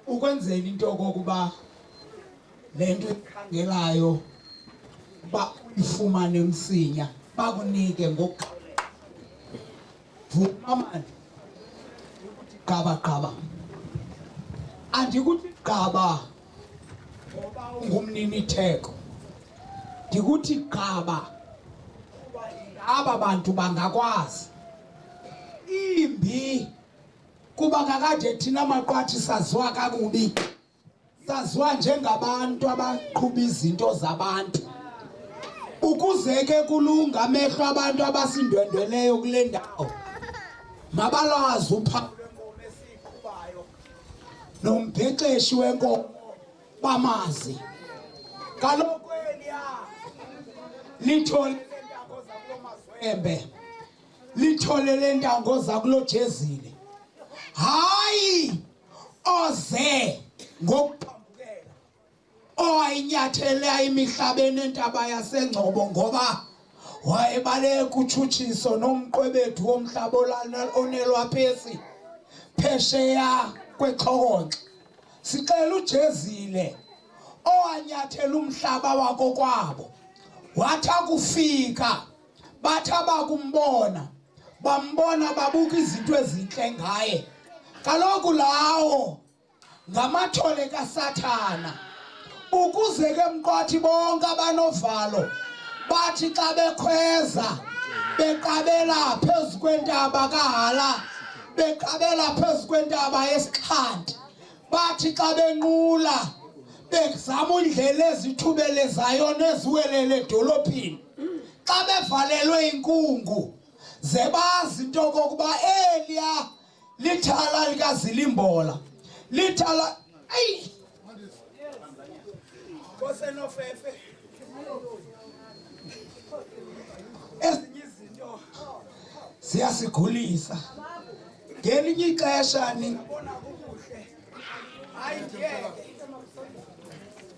ukwenzela into kokuba le nto ikhangelayo uba uyifumane msinya bakunike ngokuqabela vuma mani gqabagqaba andikuthi gqaba ngoba ungumnini theko ndikuthi qaba aba bantu bangakwazi imbi kuba kakade thina maqwathi saziwa kakubi saziwa njengabantu abaqhuba izinto zabantu ukuze ke kulunga amehlo abantu abasindwendweleyo kule ndawo mabalwazi upha nombhexeshi wenkomo bamazi kaloku eliya lithole lentango zakulo mazwembe lithole lentango zakulo jezile hayi oze ngokuphambukela owayinyathela imihlabeni entaba yasengcobo ngoba wayebaleka kutshutshiso nomqwebethu womhlaba onelwaphesi phesheya kwexhokonxa sixela ujezile owanyathela umhlaba wakokwabo wathi akufika bathi abakumbona bambona babuka izinto ezintle ngaye kaloku lawo ngamathole kasathana ukuze ke mqwathi bonke abanovalo bathi xa bekhweza beqabela phezu kwentaba kahala beqabela phezu kwentaba yesixhanti bathi xa benqula bezama indlela ezithubelezayo neziwelele edolophini xa bevalelwe inkungu ze bazi into kokuba eliya lithala likazilimbola lithala ayi kosenofefe ezinye izinto ziyasigulisa ngelinye ixesha ningabona kukuhle hayi ngeke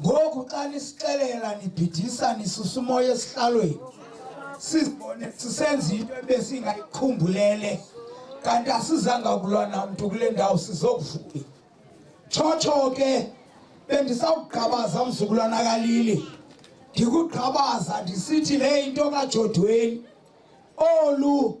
ngoku xa nisixelela nibhidisa nisusumoya esihlalweni sizibone sisenza into ebesingayiqhumbulele kanti asizanga kulwa namntu kule ndawo sizokuvuka tshotsho ke bendisawugqabaza mzukulwana kalili ndikugqabaza ndisithi le into kajodweni olu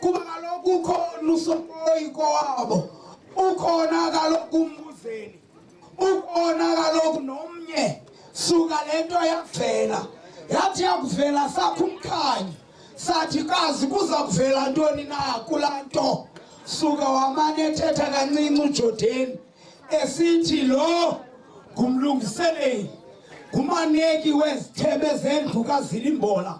kuba kaloku ukhona usokoyi kowabo ukhona kaloku umbuzeli ukhona kaloku nomnye suka le nto yavela yathi yakuvela sakho umkhanyi sathi kazi kuza kuvela ntoni na kulaa nto suka wamane ethetha kancinci ujodeni esithi lo ngumlungiseleli ngumaneki wezithebe zendlu kazilimbola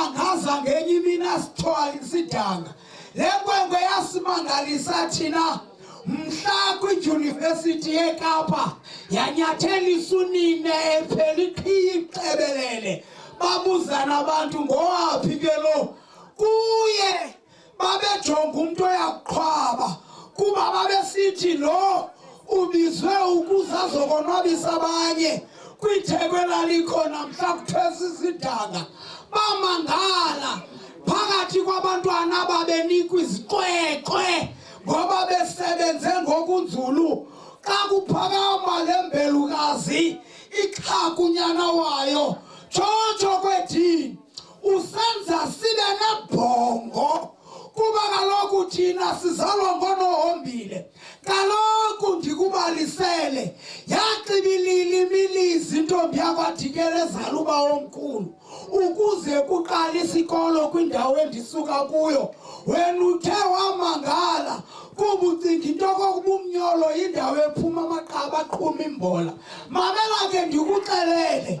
angaza ngenye imini asithwale sidanga le nkwenkwe yasimangalisa thina mhla kwidyunivesithi yekapa yanyathelisa unina ephela iqhiya ixebelele babuzana abantu ngowaphi ke lo kuye babejonga umntu oyaqhwaba kuba babesithi lo ubizwe ukuze azokonwabisa abanye kwitheko elalikhona mhla kuthwesa isidanga bamangala phakathi kwabantwana ababenikwa iziqweqwe ngoba besebenze ngokunzulu xa kuphakama le mbelukazi iqhakunyana wayo tshotsho kwethini usenza sibe nebhongo kuba kaloku thina sizalwa ngonohombile kaloku ndikubalisele yaxibilili imilizi intombi yakwadikela ezala uba omkhulu ukuze kuqala isikolo kwindawo endisuka kuyo wena uthe wamangala kuba ucinga into kokuba umnyolo yindawo ephuma amaqaba aqhuma imbola mamela ke ndikuxelele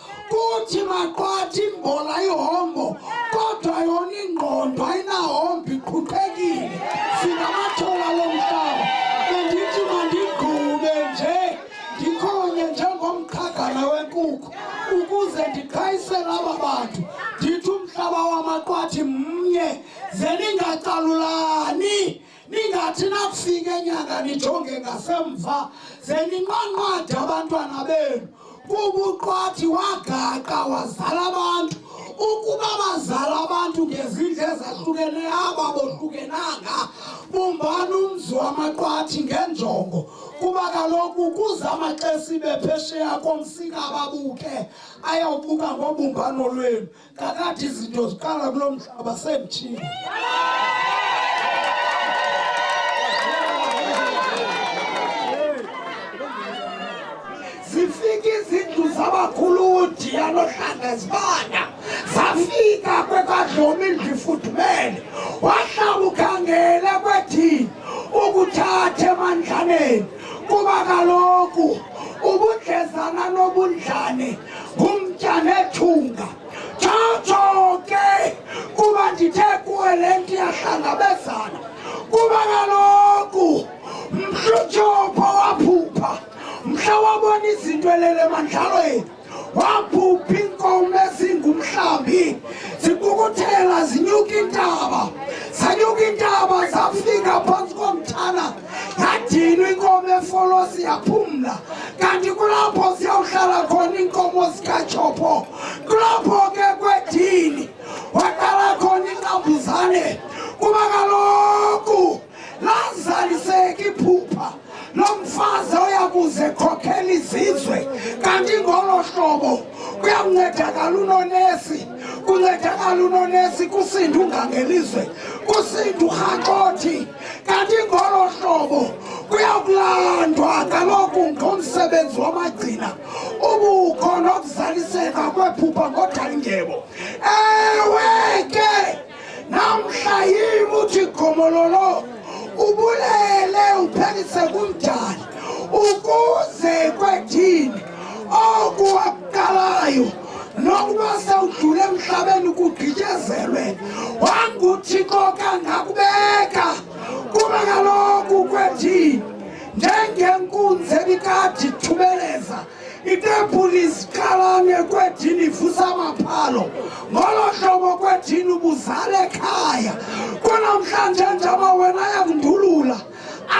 kuthi maqwathi imbola ihombo kodwa yona ingqondo ayinahombo iqhuqhekile singamathula lo mhlaba bendithi mandigqube nje ndikhonye njengomqhagana wenkukhu ukuze ndiqhayisele aba bantu ndithi umhlaba wamaqwathi mnye ze ningacalulani ningathi nakufika enyanga nijonge ngasemva ze ninqanqade abantwana benu kuba uqwathi wagaqa wazala abantu ukuba bazala abantu ngezindlu ezahlukeneyo aba bohlukenanga bumbani umzi wamaqwathi ngenjongo kuba kaloku kuza amaxesibe phesheya komsika ababuke ayawubuka ngobumbano lwenu Kakade izinto ziqala kulo mhlaba semthini. Zifika izindlu zabakhuludi yanohlanga zibanda zafika kwekadlomi indlu ifudumele wahlaba ukhangele kwethini ukuthatha emandlaneni kuba kaloku ubudlezana nobundlane ngumtya nethunga tshotsho ke kuba ndithe kuwe le nto iyahlangabezana kuba kaloku mhlutyopho waphupha mhla wabona izinto elele mandlalweni waphupha iinkomo ezingumhlambi zibukuthela zinyuka intaba zanyuka intaba zafika phantsi komthana yadinwa inkomo efolosi yaphumla kanti kulapho siyawuhlala khona iinkomo zikatshopo kulapho ke kwedini waqala khona inqambuzane kuba kaloku lazaliseki iphupha lo mfazi oya kuze khokhela izizwe kanti ngolo hlobo kuyakuncedakala unonesi kuncedakala unonesi kusinda ungangelizwe kusinda urhaxothi Kanti ngolo hlobo kuyakulandwa kaloku ngomsebenzi wamagcina ubukho nokuzaliseka kwephupha ngodalingebo ewe ke namhla yim uthi gomololo ubulele uphelise kumdali ukuze kwethini okuwakalayo nokuba sewudlule emhlabeni kugqityezelwe wanguthixo kangakubeka kuba kaloku kwethini njengenkunzi ebikade ithumeleza itempuli iziqalane kwedini ivusa amaphalo ngolo hlobo kwedini ubuzale ekhaya kunamhlanje njaba wena yakundulula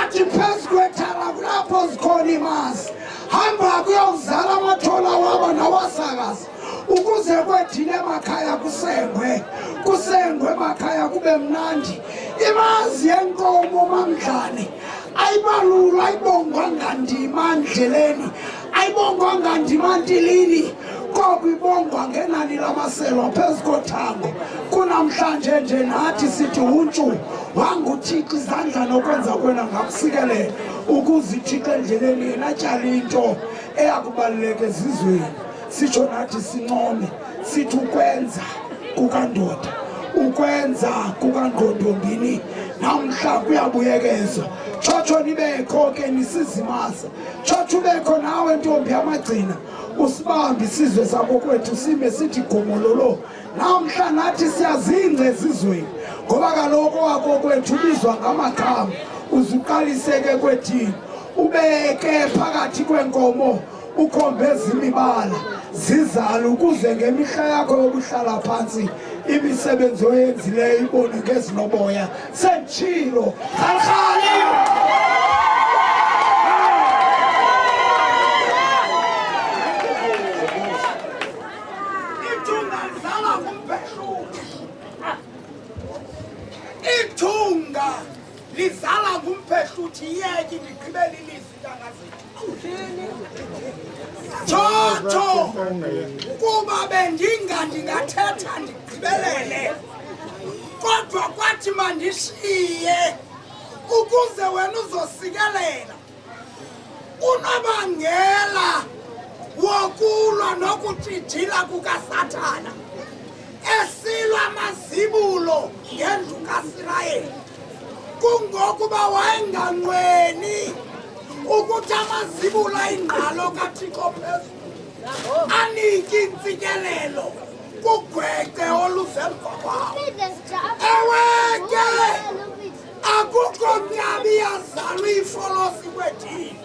athi phezu kwethala kulapho zikhona imazi hamba kuyokuzala amathola wabo nawasakazi ukuze kwethile emakhaya kusengwe kusengwe emakhaya kube mnandi imazi yenkomo mamdlane ayibalulwa ayibongwa ngandima ndleleni ayibongwanga ndimantilini koko ibongwa ngenani lamaselwa phezu kothango kunamhlanje nje nathi sithi untshu wanguthixo izandla nokwenza kwena ngakusikelele ukuzithixo endleleni yena tyala into eyakubaluleka ezizweni sitsho nathi sincome sithi ukwenza kukandoda ukwenza kukangqondombini namhla kuyabuyekezwa tshotsho nibekho ke nisizimaza Tshotsho ubekho nawe ntombi yamagcina usibambe isizwe sakokwethu sime sithi gomololo namhla nathi siyazingca ezizweni ngoba kaloku wakokwethu ubizwa ngamagama uzuqaliseke kwethini ubeke phakathi kwenkomo ukhombe ezimibala zizale ukuze ngemihla yakho yokuhlala phantsi imisebenzi oyenzileyo ibone ngezinoboya Sengitshilo. Khalkhali. Ithunga lidlala ngumphezulu. Ithunga lidlala ngumphezulu. Yeki ndigqibele ilizwi kangazethu. Chocho kuba bendinga ndingathetha ndigqibelele kodwa kwathi mandishiye ukuze wena uzosikelela unobangela wokulwa nokutshijila kukasathana esilwa amazibulo ngendlu kasirayeli kungokuba wayenganqweni ukuthi amazibula ingqalo kathixo phezulu anike intsikelelo kugwexe olusemva kwawo ewe ke akukho mnyabi yazalwa ifolosi kwethini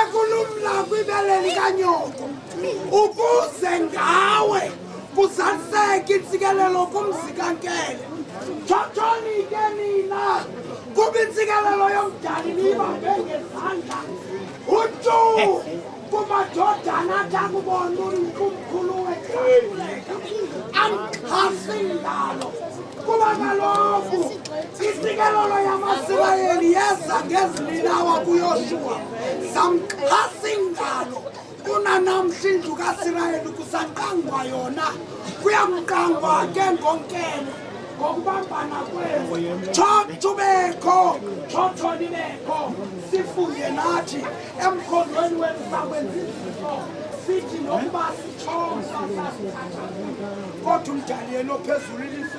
ekulumla kwibele likanyoko ukuze ngawe kuzaliseke intsikelelo kumzi kankele thotshoni ke nina kuba intsikelelo yomdali niyibambe ngezandla utu kumadodana athi akubona umkhulu wethauleka amxhasi ngalo kuba kaloku Isikelelo yamaSirayeli yeza ngezilinawa kuYoshuwa, samxhasa ingalo kunanamhla indlu kaSirayeli kusaqangwa yona, kuyamqangwa ke ngonkelo ngokubambana kwenu tshobekho tshotshoni bekho sifunge nathi emkhondweni wenu sakwenza izinto sithi nokuba sitshomsa sasithatha kodwa umdali yena ophezulu ilise